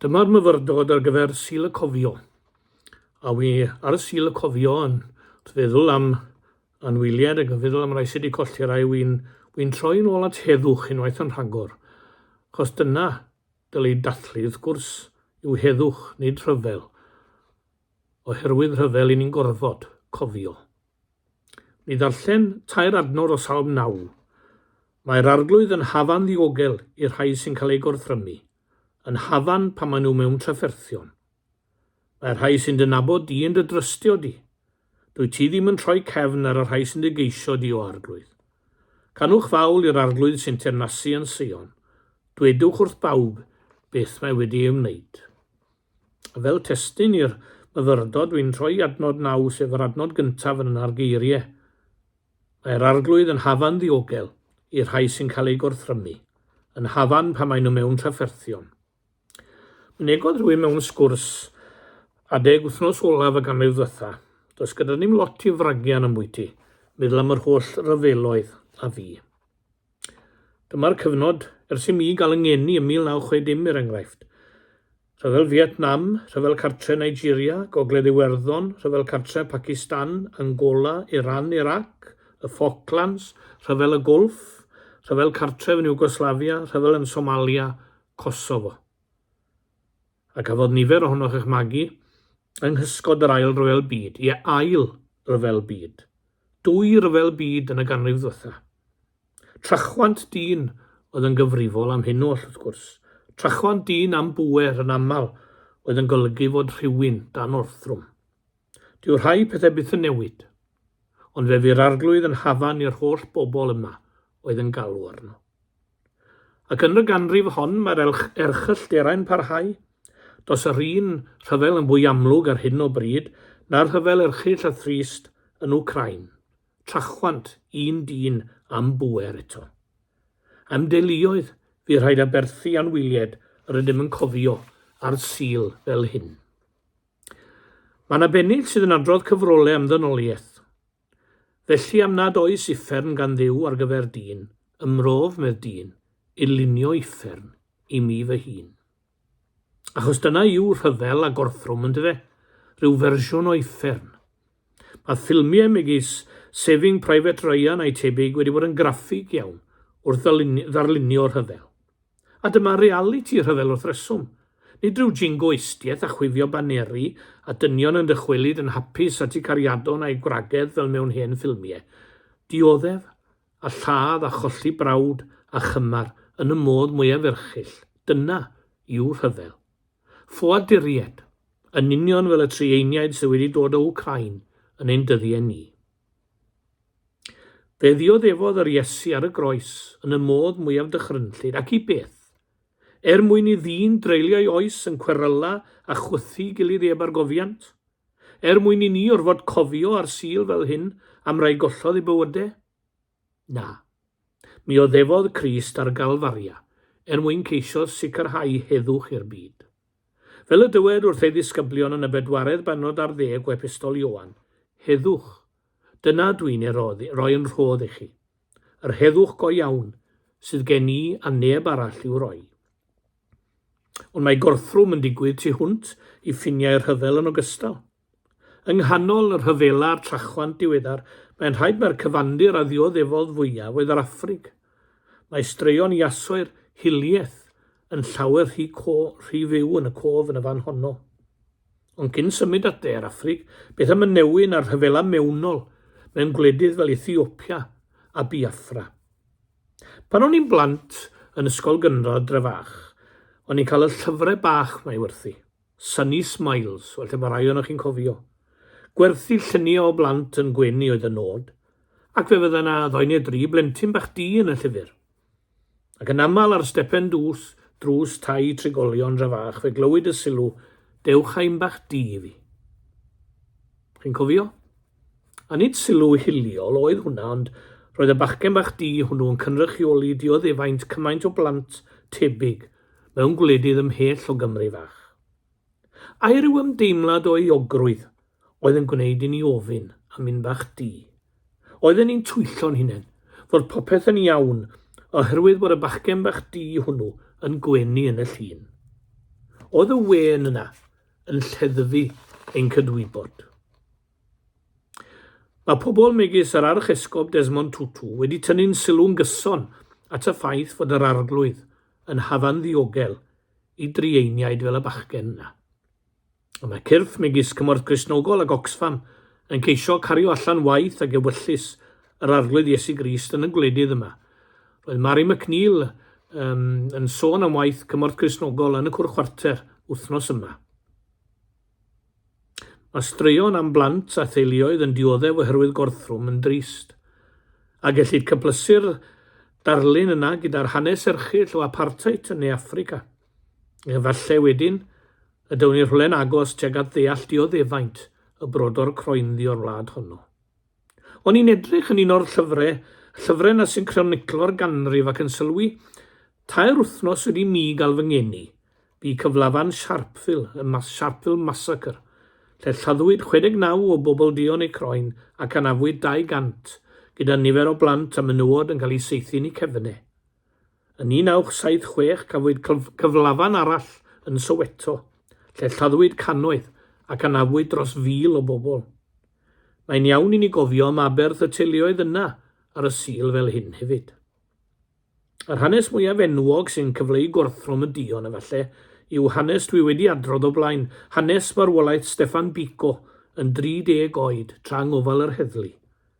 Dyma'r myfyrdod ar gyfer Sul y Cofio. A wi ar Sul y Cofio yn feddwl am anwyliad ac yn feddwl am rai sydd wedi colli rai, wi'n wi troi'n ôl at heddwch unwaith yn rhagor. Chos dyna dylai dathlu, wrth gwrs, yw heddwch, nid rhyfel. Oherwydd rhyfel, i ni'n gorfod cofio. Mi ddarllen tair adnod o Salm 9. Mae'r Arglwydd yn hafan ddiogel i'r rhai sy'n cael eu gorthrymu, yn hafan pan maen nhw mewn trafferthion. Mae'r rhai sy'n dy nabod di yn dy drystio di. Dwyt ti ddim yn troi cefn ar y rhai sy'n dy geisio di, o Arglwydd. Canwch fawl i'r Arglwydd sy'n teyrnasu yn Seion. Dwedwch wrth bawb beth mae wedi ei wneud. Fel testun i'r myfyrdod, dwi'n rhoi adnod naw, sef yr adnod gyntaf yn yna'r geirie. Mae'r Arglwydd yn hafan ddiogel i'r rhai sy'n cael eu gorthrymu, yn hafan pan maen nhw mewn trafferthion. Mynegodd rhywun mewn sgwrs adeg wythnos olaf y ganrif ddiwetha, does gyda ni'm lot i fragian ambwyty, meddwl am yr holl ryfeloedd a fu. Dyma'r cyfnod ers i mi gael 'y ngeni ym 1960 er enghraifft. Rhyfel Fietnam, Rhyfel Cartre Nigeria, Gogledd Iwerddon, Rhyfel Cartre Pacistan, Angola, Iran, Irac, y Falklands, Rhyfel y Gwlff, Rhyfel Cartref yn Iwgoslafia, Rhyfel yn Somalia, Kosovo. A cafodd nifer ohonoch eich magu yng nghysgod yr Ail Ryfel Byd, ie, Ail Ryfel Byd, dwy Ryfel Byd yn y ganrif ddwetha. Trachwant dyn oedd yn gyfrifol am hyn oll, wrth gwrs, trachwant dyn am bŵer yn aml oedd yn golygu fod rhywun dan orthrwm. Dyw rhai pethau byth yn newid, ond fe fu'r Arglwydd yn hafan i'r holl bobl yma oedd yn galw arno. Ac yn y ganrif hon mae'r erchyllterau'n parhau. Does yr un rhyfel yn fwy amlwg ar hyn o bryd na'r rhyfel erchyll a thrist yn Wcráin. Trachwant, un dyn am bŵer eto. Am deuluoedd, fu rhaid aberthu anwyliaid yr ydym yn cofio ar Sul fel hyn. Mae yna bennill sydd yn adrodd cyfrolau am ddynoliaeth. Felly am nad oes uffern gan Dduw ar gyfer dyn, ymrof, medd dyn, i lunio uffern i mi fy hun. Achos dyna yw rhyfel a gorthrwm, yndyfe? Rhyw fersiwn o uffern. Mae ffilmiau megis Saving Private Ryan a'i tebyg wedi bod yn graffig iawn wrth ddarlunio rhyfel. A dyma realiti rhyfel wrth reswm. Nid rhyw jingo eistieth a chwifio baneri a dynion yn dychwelyd yn hapus at eu cariadon a'u gwragedd fel mewn hen ffilmie. Dioddef, a lladd a cholli brawd a chymar yn y modd mwyaf erchyll, dyna yw rhyfel. Ffoaduriaid, yn union fel y Trieieniaid sydd wedi dod o Wcráin yn ein dyddiau ni. Fe ddioddefodd yr Iesu ar y groes yn y modd mwyaf dychrynllyd, ac i beth? Er mwyn i ddyn dreulio ei oes yn cweryla a chwythu gilydd eb argofiant? Er mwyn i ni orfod cofio ar Sul fel hyn am rai gollodd eu bywyde? Na. Mi oddefodd Crist ar Galfaria er mwyn ceisio sicrhau heddwch i'r byd. Fel y dywed wrth ei ddisgyblion yn y bedwaredd bennod ar ddeg o Epistol Ioan, Heddwch, dyna dw i'n ei roi yn rhodd i chi. Yr heddwch go iawn sydd gen i a neb arall i'w roi. Ond mae gorthrwm yn digwydd tu hwnt i ffiniau'r rhyfel yn ogystal. Yng nghanol y rhyfela a'r trachwant diweddar, mae'n rhaid mai'r cyfandir a ddioddefodd fwyaf oedd yr Affrig. Mae straeon Iasoer hiliaeth yn llawer rhy co- rhy fyw yn y cof yn y fan honno. Ond cyn symud at de'r Affrig, beth am y newyn a'r rhyfela mewnol mewn gwledydd fel Ethiopia a Biafra? Pan o'n i'n blant yn ysgol gynradd Drefach, o'n i'n cael y llyfrau bach 'ma i werthu. Sunny Smiles, falle mae rhai ohonoch chi'n cofio. Gwerthu lluniau o blant yn gwenu oedd y nod, ac fe fydda yna ddoi neu dri blentyn bach du yn y llyfr. Ac yn aml ar stepen dwys, drws tai trigolion dra fach fe glywyd y sylw, Dewch â un bach du i fi. Chi'n cofio? A nid sylw hiliol oedd hwnna, ond roedd y bachgen bach du hwnnw yn cynrychioli dioddefaint cymaint o blant tebyg mewn gwledydd ymhell o Gymru fach. Ai ryw ymdeimlad o euogrwydd oedd yn gwneud i ni ofyn am un bach du? Oedden ni'n twyllo'n hunain fod popeth yn iawn oherwydd bod y bachgen bach du hwnnw yn gwenu yn y llun. Oedd y wên yna, yn lleddfu ein cydwybod. Mae pobl megis yr Archesgob Desmond Tutu wedi tynnu'n sylw'n gyson at y ffaith fod yr Arglwydd yn hafan ddiogel i drieiniaid fel y bachgen yna. Ond mae cyrff megis Cymorth Gristnogol ac Oxfam yn ceisio cario allan waith ac ewyllys yr Arglwydd Iesu Grist yn y gwledydd yma, Roedd Mari McNeil um, yn sôn am waith cymorth Crisnogol yn y cwr chwarter wythnos yma. Mae straeon am blant a theuluoedd yn dioddef oherwydd gorthrwm yn drist. A gellid cyplysu'r darlun yna gyda'r hanes erchyll o apartheid yn Ne Affrica. Efallai wedyn y dywn ni rhywle'n agos tuag at ddeall dioddefaint y brodor croenddi o'r wlad honno. O'n i'n edrych yn un o'r llyfre, y llyfre 'na sy'n croniclo'r ganrif ac yn sylwi, tair wythnos wedi mi gael fy ngeni, bu cyflafan Sharpeville, y Mas Sharpeville Massacre, lle lladdwyd 69 o bobl duon eu croen ac anafwyd 200, gyda nifer o blant a menywod yn cael eu saethu yn eu cefne. Yn 1976 cafwyd cyflafan arall yn Soweto, lle lladdwyd cannoedd ac anafwyd dros fil o bobl. Mae'n iawn i ni gofio am aberth y teuluoedd yna ar y Sul fel hyn hefyd. Yr hanes mwyaf enwog sy'n cyfleu gorthrwm y duon efallai yw hanes dwi wedi adrodd o blaen, hanes farwolaeth Steffan Biko yn 30 oed tra yng ngofal yr heddlu.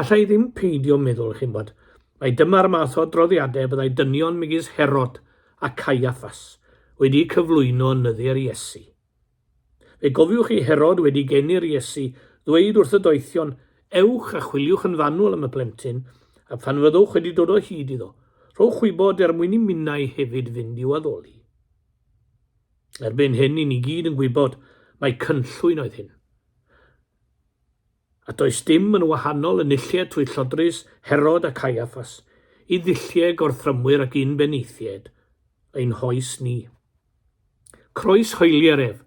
Alla i ddim peidio meddwl, chi'n bod, mai dyma'r math o adroddiadau byddai dynion megis Herod a Caiaffas wedi cyflwyno yn nyddiau'r Iesu. Fe gofiwch chi Herod wedi geni'r Iesu ddweud wrth y doethion, Ewch a chwiliwch yn fanwl am y plentyn, a phan fyddwch wedi dod o hyd iddo, rhowch wybod er mwyn i minnau hefyd fynd i'w addoli. Erbyn hyn, ni'n i gyd yn gwybod mai cynllwyn oedd hyn. A does dim yn wahanol yn nillied trwy llodrus Herod a Caiaffas i ddulliau gorthrymwyr ac un beneithiaid ein hoes ni. Croes hoeli'r ef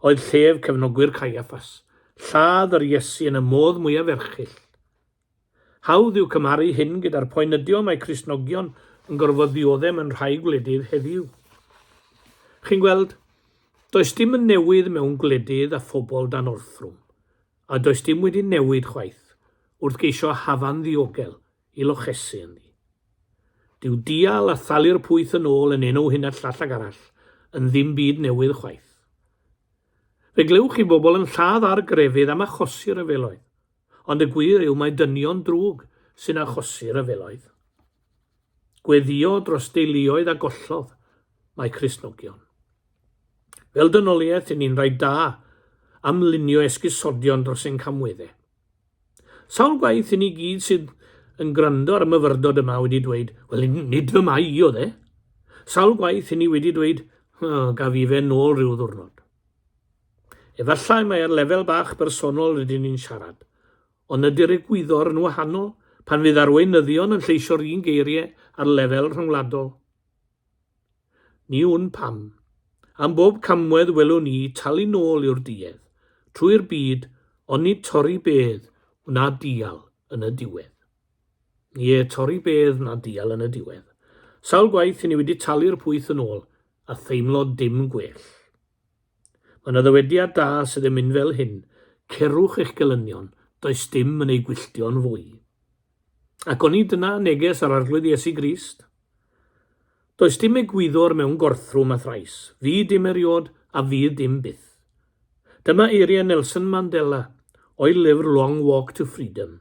oedd llef cefnogwyr Caiaffas, lladd yr Iesu yn y modd mwyaf erchill Hawdd yw cymharu hyn gyda'r poen ydio mae Cristnogion yn gorfod ddiodde mewn rhai gwledydd heddiw. Chi'n gweld, does dim yn newydd mewn gwledydd a phobl dan orthrwm, a does dim wedi newid chwaith wrth geisio hafan ddiogel i lochesu ynddi. Dyw dial a thalu'r pwyth yn ôl yn enw hyn a llall ag arall yn ddim byd newydd chwaith. Fe glywch chi bobl yn lladd ar grefydd am achosi rhyfeloedd, ond y gwir yw mai dynion drwg sy'n achosi rhyfeloedd. Gweddïo dros deuluoedd a gollodd mae Cristnogion. Fel dynoliaeth, yn ni'n rhaid da am lunio esgusodion dros ein camwedde. Sawl gwaith i ni gyd sydd yn gwrando ar y myfyrdod yma wedi dweud, wel, nid fy mai i o dde. Sawl gwaith i ni wedi dweud, oh, gaf i fe nôl rhyw ddwrnod. Efallai mai ar lefel bach bersonol rydyn ni'n siarad, ond ydy'r egwyddor yn wahanol pan fydd arweinyddion yn lleisio'r un geiriau ar lefel rhyngwladol? Ni wn pam. Am bob camwedd welwn ni talu nôl i'r duedd, trwy'r byd, ond nid torri bedd wna dial yn y diwedd. Ie, torri bedd wna dial yn y diwedd. Sawl gwaith i ni wedi talu'r pwyth yn ôl a theimlo dim gwell. Mae 'na ddywediad da sydd yn mynd fel hyn, Cerwch eich gelynion, does dim yn eu gwylltio'n fwy. Ac oni dyna neges yr Arglwydd Iesu Grist? Does dim egwyddor mewn gorthrwm a thrais, fydd dim eriod a fydd dim byth. Dyma eiriau Nelson Mandela o'i lyfr Long Walk to Freedom.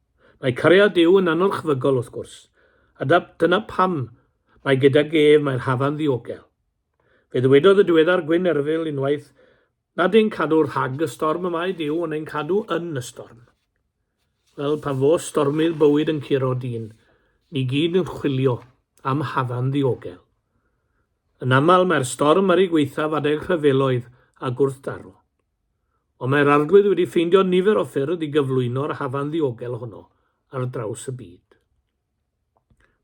Mae cariad Duw yn anorchfygol wrth gwrs, a dyna pam mae gydag ef mae'r hafan ddiogel. Fe ddywedodd y diweddar Gwyn Erfil unwaith nad ein cadw rhag y storm y mae Duw ond ein cadw yn y storm. Wel, pan fo stormydd bywyd yn curo dyn, ni gyd yn chwilio am hafan ddiogel. Yn aml mae'r storm ar ei gwaethaf adeg rhyfeloedd a gwrthdaro. Ond mae'r Arglwydd wedi ffeindio nifer o ffyrdd i gyflwyno'r hafan ddiogel honno ar draws y byd.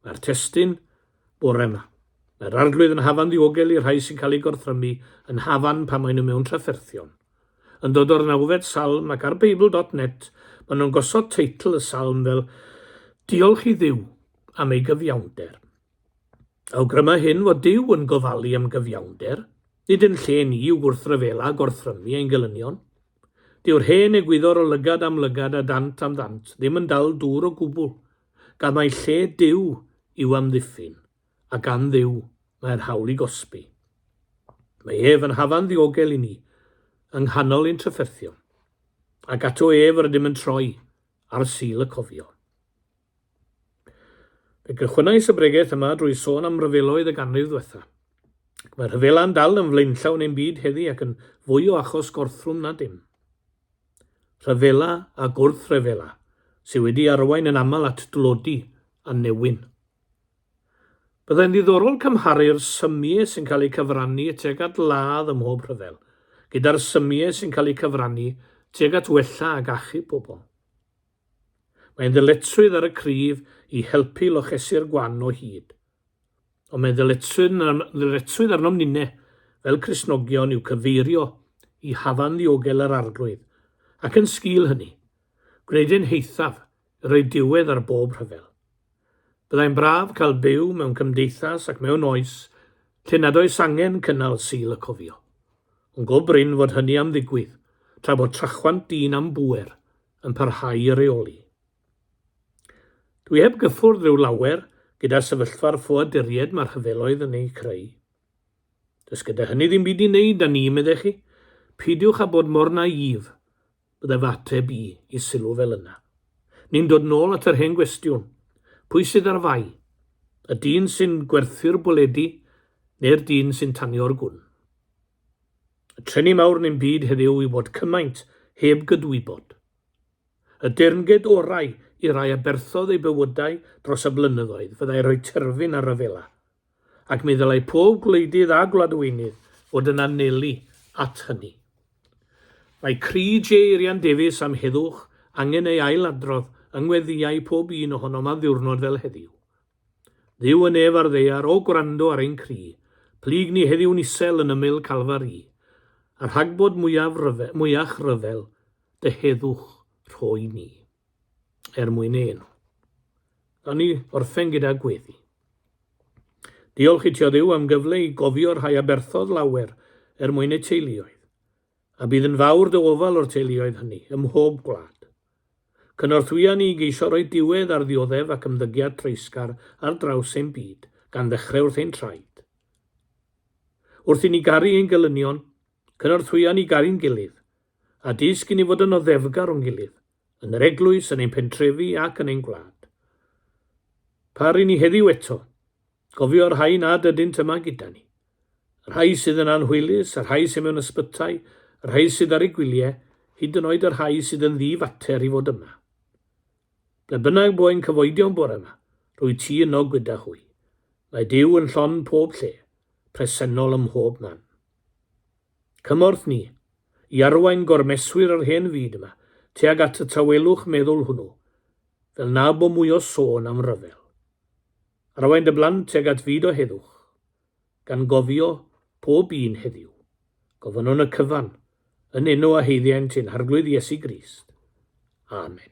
Mae'r testyn bore yma. Mae'r Arglwydd yn hafan ddiogel i'r rhai sy'n cael eu gorthrymu yn hafan pan maen nhw mewn trafferthion. Yn dod o'r nawfed salm ac ar Beibl.net maen nhw'n gosod teitl y salm fel Diolch i Dduw am ei gyfiawnder. Awgryma hyn fod Duw yn gofalu am gyfiawnder, nid yn lle ni i'w gwrthryfela a gorthrymu ein gelynion. Dyw'r hen egwyddor o lygad am lygad a dant am ddant ddim yn dal dŵr o gwbl, gan mai lle Duw yw amddiffyn, a gan Dduw mae'r hawl i gosbi. Mae ef yn hafan ddiogel i ni, yng nghanol ein trafferthion, ac ato ef rydym yn troi ar Sul y Cofion. Fe gychwynnais y bregeth yma drwy sôn am ryfeloedd y ganrif ddwetha. Ac mae rhyfela'n dal yn flaenllaw neu'n byd heddi ac yn fwy o achos gorthrwm na dim. Rhyfela a gwrthryfela sydd wedi arwain yn aml at dlodi a newyn. Byddai'n ddiddorol cymharu'r symiau sy'n cael eu cyfrannu tuag at ladd ym mhob rhyfel gyda'r symiau sy'n cael eu cyfrannu tuag at wella ac achub pobl. Mae'n ddyletswydd ar y cryf i helpu lochesu'r gwan o hyd. Ond mae'n ddyletswydd arnom ninne, fel Cristnogion, i'w cyfeirio i hafan ddiogel yr Arglwydd, ac yn sgil hynny, gwneud ein heithaf i roi diwedd ar bob rhyfel. Byddai'n braf cael byw mewn cymdeithas ac mewn oes lle nad oes angen cynnal Sul y Cofio. Ond go brin fod hynny am ddigwydd, tra bod trachwant dyn am bŵer yn parhau i reoli. Dwi heb gyffwrdd rhyw lawer gyda sefyllfa'r ffoaduriaid mae'r rhyfeloedd yn eu creu. Does gyda hynny ddim byd i wneud â ni, meddech chi? Peidiwch â bod mor naïf, byddai fy ateb i i sylw fel yna. Ni'n dod nôl at yr hen gwestiwn, pwy sydd ar fai? Y dyn sy'n gwerthu'r bwledi neu'r dyn sy'n tanio'r gwn? Y trenni mawr yn ein byd heddiw yw bod cymaint heb gydwybod. Y deyrnged orau i rai aberthodd eu bywydau dros y blynyddoedd fyddai rhoi terfyn ar ryfela, ac mi ddylai pob gwleidydd a gwladweinydd fod yn anelu at hynny. Mae cri Jay Rhian Davies am heddwch angen ei ail-adrodd yng ngweddïau pob un ohonom ar ddiwrnod fel heddiw. Dduw yn ef ar ddaear, o gwrando ar ein cri, Plyg ni heddiw'n isel yn ymyl Calfari, A rhagbod mwyaf rhyfel, mwyach rhyfel, Dy heddwch rhoi ni. Er mwyn ein. Gawn ni orffen gyda gweddi. Diolch i Tio Dduw am gyfle i gofio rhai aberthodd lawer er mwyn eu teuluoedd. a bydd yn fawr dy ofal o'r teuluoedd hynny, ym mhob gwlad. Cynorthwya ni i geisio rhoi diwedd ar ddioddef ac ymddygiad treisgar ar draws ein byd, gan ddechrau wrth ein traed. Wrth i ni garu ein gelynion, cynorthwya ni garu'n gilydd, a dysg i ni fod yn oddefgar o'n gilydd, yn yr eglwys, yn ein pentrefi ac yn ein gwlad. Par i ni heddiw eto, Cofio y rhai nad ydynt yma gyda ni. Y rhai sydd yn anhwylus, y rhai sydd mewn ysbytai, y rhai sydd ar eu gwyliau, hyd yn oed y rhai sydd yn ddi-fater i fod yma. Ble bynnag bo ein cyfoedion bore yma, rwyt ti yno gyda hwy. Mae Duw yn llon pob lle, presennol ym mhob man. Cymorth ni i arwain gormeswyr yr hen fyd yma tuag at y tawelwch meddwl hwnnw, fel na bo mwy o sôn am ryfel. Arwain dy blant tuag at fyd o heddwch, gan gofio pob un heddiw. Gofynnwn y cyfan, yn enw a haeddiant ein Harglwydd Iesu Grist. Amen.